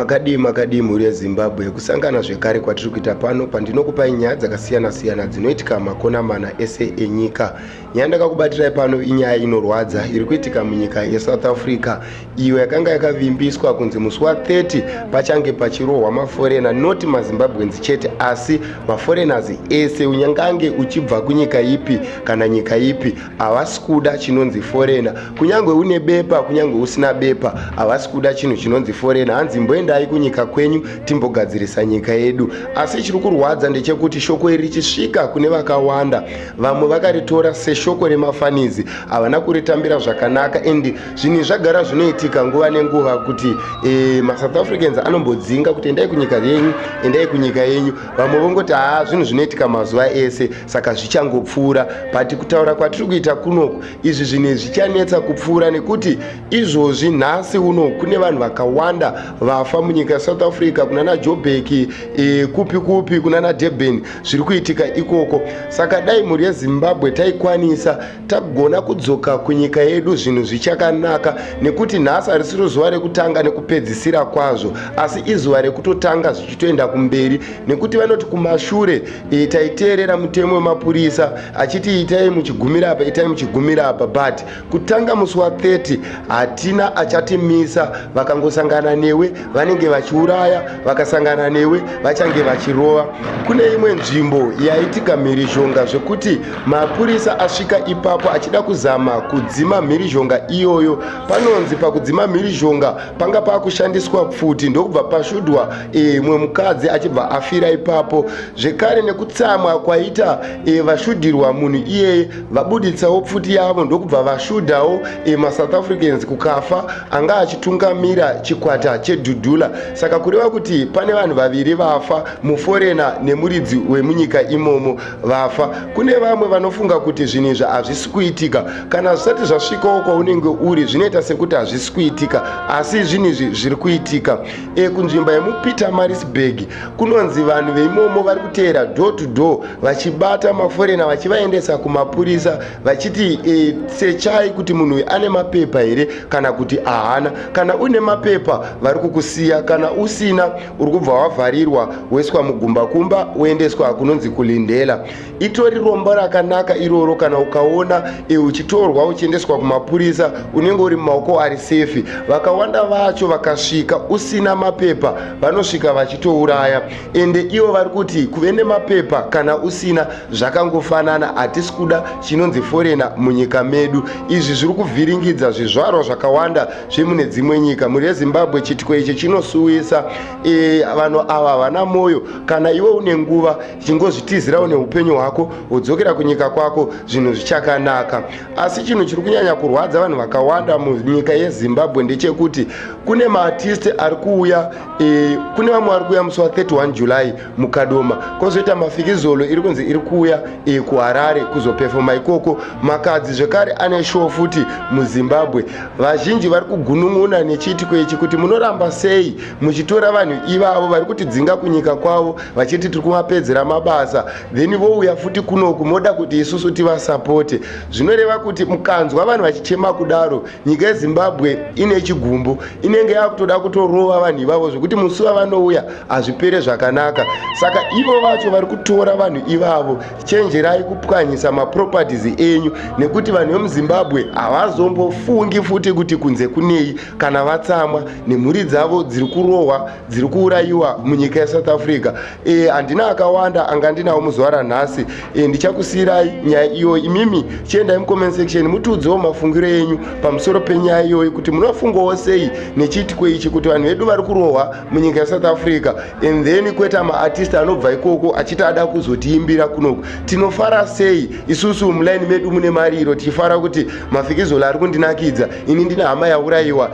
makadii makadii mhuri yezimbabwe kusangana zvekare kwatiri kuita pano pandinokupai nyaya dzakasiyana-siyana dzinoitika makona mana ese enyika yandakakubatirai pano inyaya inorwadza iri kuitika munyika yesouth africa iyo yakanga yakavimbiswa kunzi musi wa30 pachange pachirohwa maforena not mazimbabwens chete asi maforeigners ese unyangange uchibva kunyika ipi kana nyika ipi havasi kuda chinonzi forena kunyange une bepa kunyange usina bepa havasi kuda chinhu chinonzi forena hanzi mboendai kunyika kwenyu timbogadzirisa nyika yedu asi chiri kurwadza ndechekuti shoko iri richisvika kune vakawanda vamwe vakaritora seshoko remafanizi havana kuritambira zvakanaka and zvinhu zvagara zvinoitika nguva nenguva kuti e, masouth africans anombodzinga kuti endai kunyika yenyu endai kunyika yenyu vamwe vongoti haa zvinhu zvinoitika mazuva ese saka zvichangopfuura but kutaura kwatiri kuita kunoku izvi zvinhu zvichanetsa kupfuura nekuti izvozvi nhasi uno kune vanhu vakawanda vafa munyika yesouth africa kunana jobeki e, kupi kupi kunana durban zviri kuitika ikoko saka dai mhuri yezimbabwe taikwanisa tagona kudzoka kunyika yedu zvinhu zvichakanaka nekuti nhasi harisiro zuva rekutanga nekupedzisira kwazvo asi izuva rekutotanga zvichitoenda kumberi nekuti vanoti kumashure e, taiteerera mutemo wemapurisa achiti itai muchigumira apa itai muchigumira apa but kutanga musi wa 30 hatina achatimisa vakangosangana newe vanenge vachiuraya vakasangana newe vachange vachirova kune imwe nzvimbo yaitika mhirizhonga zvekuti mapurisa asvika ipapo achida kuzama kudzima mhirizhonga iyoyo panonzi pakudzima mhirizhonga panga pakushandiswa pfuti ndokubva pashudwa e, mwe mukadzi achibva afira ipapo zvekare nekutsamwa kwaita e, vashudirwa munhu iyeye vabuditsawo pfuti yavo ndokubva vashudhawo e, masouth africans kukafa anga achitungamira chikwata chedhudhula saka kureva kuti pane vanhu vaviri vafa muforena nemuridzi wemunyika imomo vafa kune vamwe vanofunga kuti zvinhu izvi hazvisi kuitika kana zvisati zvasvikawo kwaunenge uri zvinoita sekuti hazvisi kuitika asi zvinhu izvi zviri kuitika ekunzvimba yemupeter marisburg kunonzi vanhu veimomo vari kuteera door to door vachibata maforena vachivaendesa kumapurisa vachiti e, sechai kuti munhu uyu ane mapepa here kana kuti ahana kana uine mapepa vari kukusiya kana usina uri kubva wavharirwa woiswa mugumbakumba woendeswa kunonzi kulindela itori rombo rakanaka iroro kana ukaona e, uchitorwa uchiendeswa kumapurisa unenge uri mumaoko ari sefi vakawanda vacho vakasvika usina mapepa vanosvika vachitouraya ende ivo vari kuti kuve nemapepa kana usina zvakangofanana hatisi kuda chinonzi forena munyika medu izvi zviri kuvhiringidza zvizvarwa zvakawanda zvemune dzimwe nyika mhuri yezimbabwe chitiko ichi chinosuwisa e, vanhu ava havana mwoyo kana iwe une nguva chingozvitizirawo neupenyu hwako wodzokera kunyika kwako zvinhu zvichakanaka asi chinhu chiri kunyanya kurwadza vanhu vakawanda munyika yezimbabwe ndechekuti kune maartisti ari kuuya e, kune vamwe vari kuuya musi wa 31 july mukadoma kwozoita mafikizolo iri kunzi iri kuuya e, kuharare kuzopefoma ikoko makadzi zvekare ane show futi muzimbabwe vazhinji vari kugunun'una nechiitiko ichi kuti munoramba sei muchitora vanhu ivavo vari kutidzinga kunyika kwavo vachiti tiri kuvapedzera mabasa then vouya futi kunoku moda kuti isusu tivasapote zvinoreva kuti mukanzwa vanhu vachichema kudaro nyika yezimbabwe ine chigumbu inenge yakutoda kutorova vanhu ivavo zvekuti musi vavanouya hazvipere zvakanaka saka ivo vacho vari kutora vanhu ivavo chenjerai kupwanyisa maproperties enyu nekuti vanhu vemuzimbabwe havazombofungi futi kuti kunze kunei kana vatsamwa nemhuri dzavo dziri kurohwa dziri kuurayiwa munyika yesouth africa e, handina akawanda anga ndinawo muzuva ranhasi e, ndichakusiyirai nyaya iyoyi imimi chiendai mucomment section mutiudzewo mafungiro enyu pamusoro penyaya iyoyi kuti munofungawo sei nechiitiko ichi kuti vanhu vedu vari kurohwa munyika yesouth africa and then kweta maartist anobva ikoko achiti ada kuzotiimbira kunoku tinofara sei isusu muline medu mune mariro tichifara kuti mafikizolo ari kundinakidza ini ndine hama yaurayiwa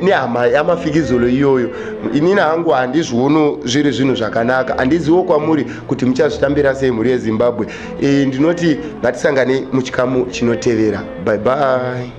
nehama yamafikizolo iyoyo inini hangu handizviono zviri zvinhu zvakanaka handiziwo kwamuri kuti muchazvitambira sei mhuri yezimbabwe e, ndinoti ngatisangane muchikamu chinotevera bye bye